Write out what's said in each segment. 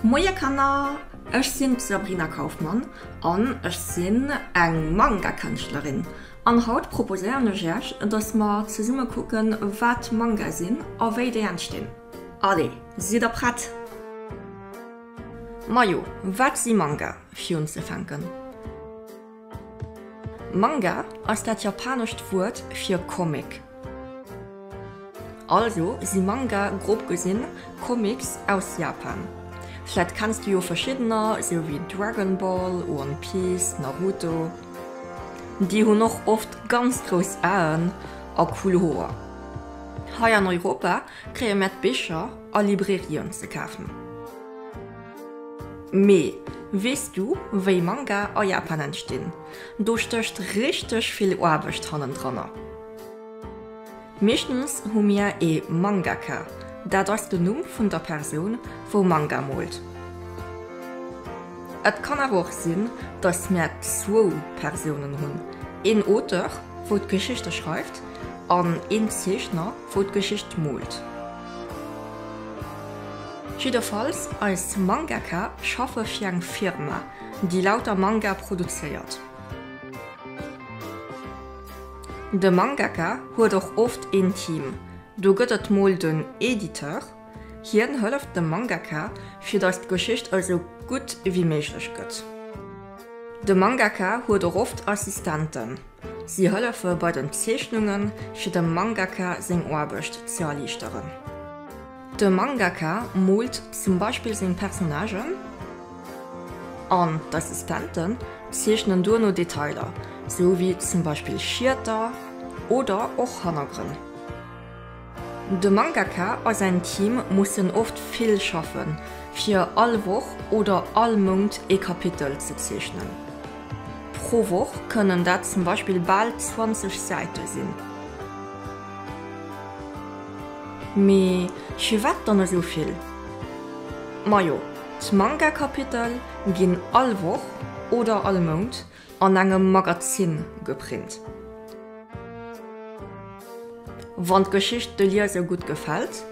Moie Kanner, ech sinn d'Sabrina Kaufmann an ech sinn eng Manga-Kënschtlerin an haut proposéieren ech iech dass mer zesumme kucken wat Manga sinn a wéi déi entstinn. Allez, sidd der prett? Majo, wat si Manga? Fir unzefänken. Manga ass dat japanescht Wuert fir Comic. Also si Manga grob gesinn Comics aus Japan. Vläit kenns du jo verschiddener, sou wéi Dragon Ball, One Piece, Naruto. Déi hunn och oft ganz grouss Aen a cool Hoer. Hei an Europa kréie mär d'Bicher a Librairien ze kafen. Mee weess du wéi Manga a Japan entstinn? Do stécht richteg vill Aarbecht hannendranner. Meeschtens hu mir ee Mangaka, dat ass den Numm vun der Persoun wou Manga moolt. Et kann awer och sinn datt mir zwou Persounen hunn, een Auteur wou d'Geschichte schreift an een Zeechner wou d'Geschicht moolt. Jidderfalls, eis Mangaka schaffe fir eng Firma, déi lauter Manga produzéiert. De Mangaka huet och oft een Team. Do gëtt et mol den Editeur, hien hëlleft dem Mangaka, fir datt d'Geschicht esou gutt wéi méiglech gëtt. De Mangaka huet och oft Assistenten. Si hëllefe bei den Zeechnungen, fir dem Mangaka seng Aarbecht ze erliichteren. De Mangaka moolt zum Beispill seng Personnagen an d'Assistenten zeechnen duerno Detailer, sou wéi zum Beispill Schieter oder och Hannergrënn. De Mangaka a säin Team mussen oft vill schaffen, fir all Woch oder all Mount ee Kapitel ze zeechnen. Pro Woch kënnen dat zum Beispill bal 20 Säite sinn. Mee firwat dann esou vill? Majo, d'Manga-Kapitel ginn all Woch oder all Mount An engem Magazin geprint. Wann d'Geschicht de Lieser gutt gefält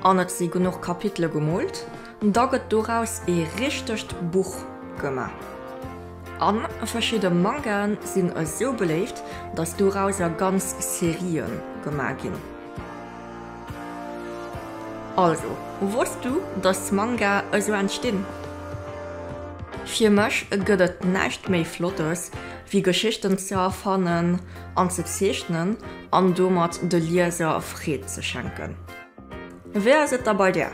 an et si genuch Kapitele gemoolt, da gëtt doraus ee richtegt Buch gemaach. A verschidde Mangae sinn esou beléift, datt dorausser ganz Serië gemaach ginn. Also, wosst du dass Manga esou entstinn? Fir mech gëtt et näischt méi Flottes wéi Geschichten ze erfannen an ze zeechnen an domat de Lieser Freed ze schenken. Wéi ass et da bei där?